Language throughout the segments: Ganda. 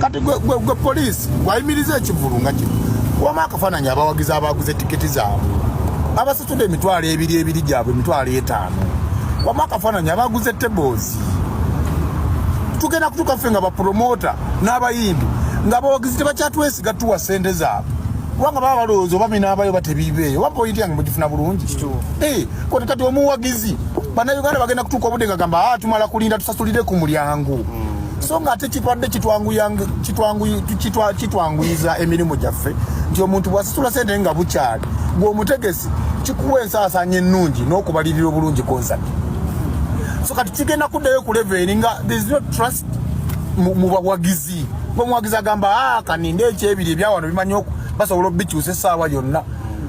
kati gwe poliisi wayimiriza ekivulu nga kino wamu akafaananyi abawagizi abaguze tiketi zaabwe abasasudde emitwalo ebiri ebiri gyabwe emitwalo etaano wamu akafaananyi abaguze tebozi tugenda kutuuka ffe nga bapromota n'abayimbi nga abawagizi tebakyatwesiga tuwa sente zaabwe kubanga baba balowooza oba binaabayo batebiibeeyo oba pointi yange mugifuna bulungi eh, kote kati omuwagizi bannayuganda bagenda kutuuka obudde nga gamba ah, tumala kulinda tusasulire ku mulyango mm. so nga ate kitwadde kitwanguyiza emirimu gyaffe nti omuntu bwasitula sente nga bukyali gwe omutegesi kikuwa ensaasaanya ennungi n'okubalirira obulungi konsati so kati kigenda kuddayo ku leveri nga there's no trust mu bawagizi ngaomuwagizi agamba ah, kaninde ekyebiri ebyawano bimanyi basobola obikyusa esaawa yonna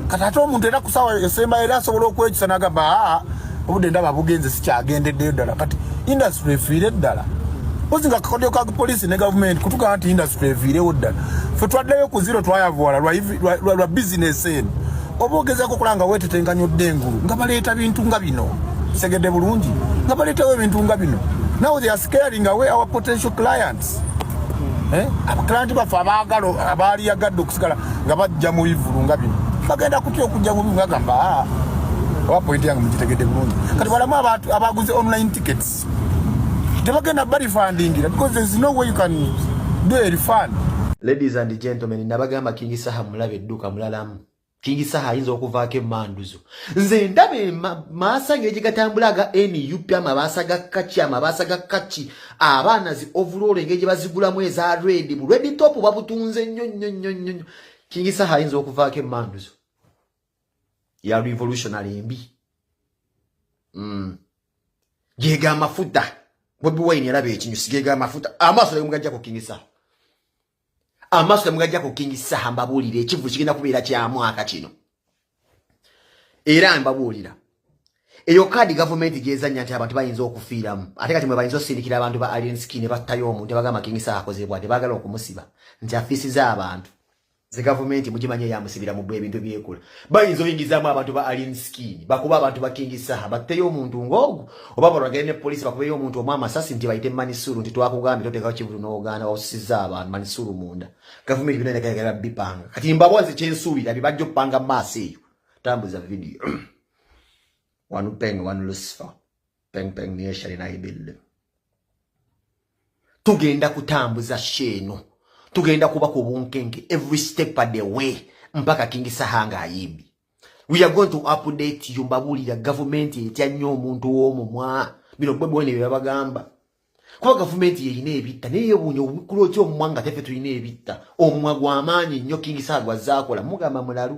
kati ate omuntu era kusaawa esembayo era asobola okwekyusa nagamba ah, obudde ndaba bugenze sikyagendeddeyo ddala kati industry efiire ddala mpozi nga kakodyo ka poliisi ne gavumenti kutugamba nti industry eviirewo ddala fe twaddayo ku ziro twayavuwala lwa bizinesi eno oba ogezako okola nga wetetenkanya odde engulu nga baleeta bintu nga bino segedde bulungi nga baleetawo ebintu nga bino now they are scaring away our potential clients eh? abakilanti baffe abaagala abaaliyagadde okusigala nga bajja mu bivulu nga bino bagenda kutya okujja mu bivulu agamba ah, oba pointi yange mugitegedde bulungi kati balamu abantu abaguze online tickets tebagenda balifandingira because there is no way you can do a refund ladies and gentlemen nabagamba king saha mulabe edduka mulalamu Kingi Saha ayinza okuvaako emanduzo nze ndaba emaasa ngeri gye gatambula aga nup amabaasa ga kaki amabaasa ga kaki abaana zi ovuloolo engeri gye bazigulamu eza redi bu redi top babutunze nnyo nnyo nnyo nnyo nnyo Kingi Saha ayinza okuvaako emanduzo ya revolutionary embi mm. geega amafuta bobi wine yalaba ekinyusi geega amafuta amaaso naye mugajja ku Kingi Saha amaaso temugajja ku kingi saha mbabuulira ekivu kigenda kubeera kya mwaka kino era mbabuulira eyo kaadi gavumenti gyezannya nti abantu bayinza okufiiramu ate kati mwe bayinza osindikira abantu ba alien skin battayo omuntu abagamba kingi saha akozebwa tebagala okumusiba nti afiisiza abantu ze gavumenti mugimanye yamusibira mu bwe ebintu byekola bayinza oyingizaamu abantu ba alien skin bakuba abantu ba king saha batteyo omuntu ngoogu oba balwagere ne poliisi bakubeyo omuntu omu amasasi nti bayite manisuru nti twakugambye totekawo kibulu n'ogaana wawusizza abantu manisuru munda gavumenti bina negayagala bipanga kati mbabozi kyensuubira bibajja okupanga maaso eyo tambuza vidiyo wanu peng wanu lucifer peng peng niye shari na ibille tugenda kutambuza sheno tugenda kuba ku bunkenke every step of the way mpaka kingi sahanga ayibi we are going to update you mbabulira government etya nnyo omuntu w'omu mwa bino bwe bwene byabagamba kuba government yeyina ebitta naye yewuunya obukulu otya omumwa nga tefe tulina ebitta omumwa gw'amaanyi nnyo kingi saha gwazze akola mugamba mulalu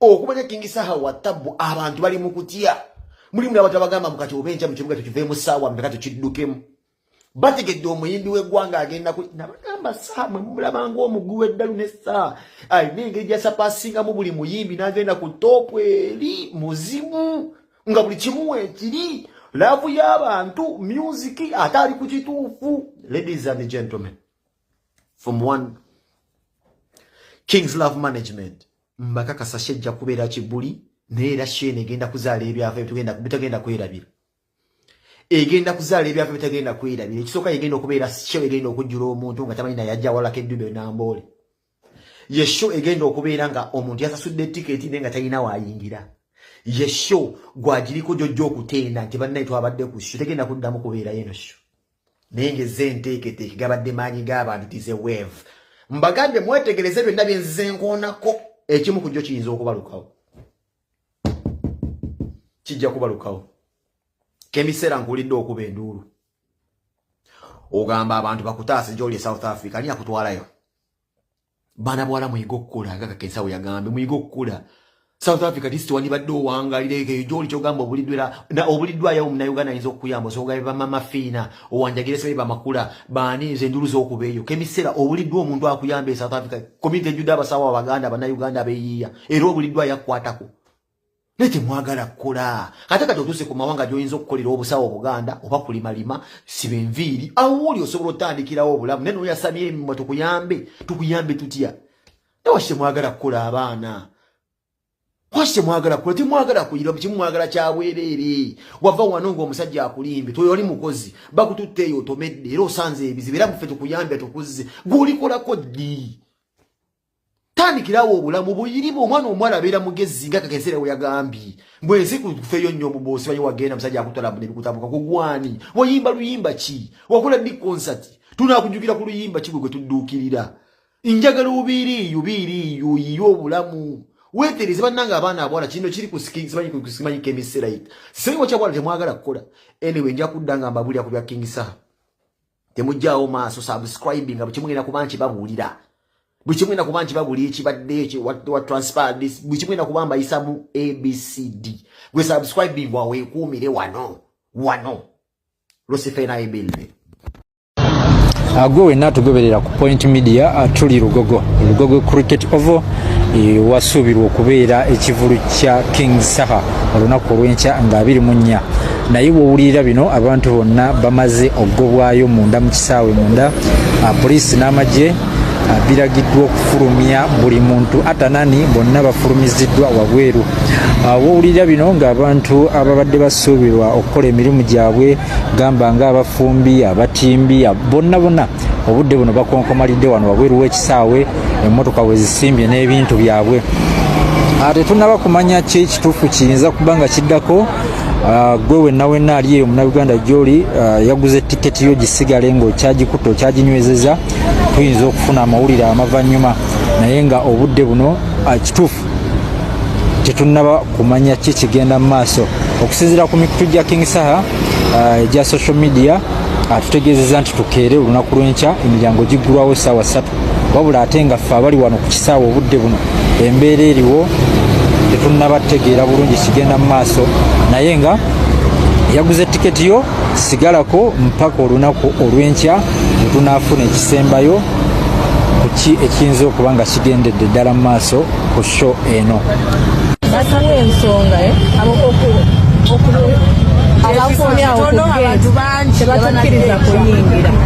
okumanya kingi saha wa tabu abantu bali mukutya mulimu nabantu abagamba mukati oba enja mukibuga tukiveemu saawa mbeka tukiddukemu bategedde omuyimbi w'eggwanga agenda ku nabagamba saa mwe mumulabanga omugwi w'eddalu ne saa alina engeri gyasapasingamu buli muyimbi n'agenda ku toopu eri muzimu nga buli kimu wekiri laavu y'abantu myuziki ate ali ku kituufu ladies and gentlemen from one kings love management mbakakasa shejja kubeera kibuli naye era sheena egenda kuzaala ebyafa bitagenda kwerabira egenda kuzaala ebyafa bitagenda kwerabira ekisooka egenda okubeera sho egenda okujjula omuntu nga tamanyi naye ajja walako eddube namboole ye sho egenda okubeera nga omuntu yasasudde tiketi naye nga talina waayingira ye sho gwagiriko gyojja okuteena nti bannaye twabadde ku sho tegenda kuddamu kubeerayo eno sho naye ngezze enteeketeeke gabadde maanyi g'abantu tize wave mbagambye mwetegereze byonna byenzize nkoonako ekimu ku jjo kiyinza okubalukawo kijja kubalukawo kemiseera nkuwulidde okuba enduulu ogamba abantu bakutaase gyoli e south africa ani akutwalayo baana bwala muyige okukula nga kakensawo yagambye muyige okukula south africa disiti wandibadde owangalira eko eyo gyoli kyogamba obuliddwera obuliddwayo omunauganda ayinza okukuyamba osobola be bamamafiina owanjagire sebe bamakula baani nze enjulu z'okuba eyo kemisera obuliddwa omuntu akuyamba e south africa community ejjudde abasawo abaganda abanauganda abeyiiya era obuliddwa yakukwatako naye temwagala kukola ate kati otuuse ku mawanga gyoyinza okukolera obusawo obuganda oba kulimalima siba enviiri awuuli osobola otandikirawo obulamu naye noyasamya emimwa tukuyambe tukuyambe tutya naye waki temwagala kukola abaana waki temwagala kukola temwagala kuyira kimumwagala kyabwereere wava wano ngaomusajja akulimbye toyoli mukozi bakututte eyo otomedde era osanze ebizibu era muffe tukuyambye tukuzze gweolikolako ddi tandikirawo obulamu buyiriba omwana omuwala abeera mugezi nga kakesera weyagambye mbwe ensi kufeyo nnyo omubosi baye wagenda musajja akutwala buna ebikutabuka kugwani wayimba luyimba ki wakola big concert tunakujukira ku luyimba kigwe gwe tudduukirira njagala obiiriiyo biiriiyo yiyo obulamu wetereze bannanga abaana abawala kino kiri kusimanyi kemiserait simanyi wakyabawala temwagala kukola anyway nja kudda nga mbabulira ku bya king saha temujjaawo maaso subscribe nga bwekimugenda kuba nti babuulira bwekimugenda kuba nti babuulira ekibadde wa transpire this bwekimugenda kuba mbayisamu abcd gwe subscribing waweekuumire wano wano losifena ebilne ah, gwe wenna tugoberera ku point media ah, tuli lugogo lugogo cricket ovo eh, wasuubirwa okubeera ekivulu kya king saha olunaku olwenkya nga 24 naye bwowulirira bino abantu bonna bamaze okugobwayo munda mu kisaawe munda ah, poliisi n'amagye ah, biragiddwa okufulumya buli muntu atanani bonna bafulumiziddwa wabweru ah, wowulirira bino ng'abantu ababadde basuubirwa okukola emirimu gyabwe gamba ng'abafumbi abatimbi bonna bonna obudde buno bakonkomalidde wano wabweru w'ekisaawe emmotoka wezisimbye n'ebintu byabwe tetunaba kumanya ki ekituufu kiyinza kuba nga kiddako Ah, gwe wenna wenna ali eyo munauganda gyoli ah, yaguze tiketi yo gisigale ngaokyagikutte okyaginywezeza tuyinza okufuna amawulire amavanyuma naye nga obudde buno ah, kituufu tetunaba kumanya ki kigenda mu maaso okusinzira ku mikutu gya king saha egya social media atutegeezeza nti tukeere olunaku lwenkya emiryango giggulwawo saawa satu wabula ate nga ffe abali wano ku kisaawe obudde buno embeera eriwo tetunnaba tutegeera bulungi kigenda mu maaso naye nga yaguze tiketi yo sigalako mpaka olunaku olw'enkya netunaafuna ekisembayo kuki ekiyinza okuba nga kigendedde ddala mu maaso ku sho eno batuwa ensonga eh? abakuumyawo ku gate tebatukiriza kuyingira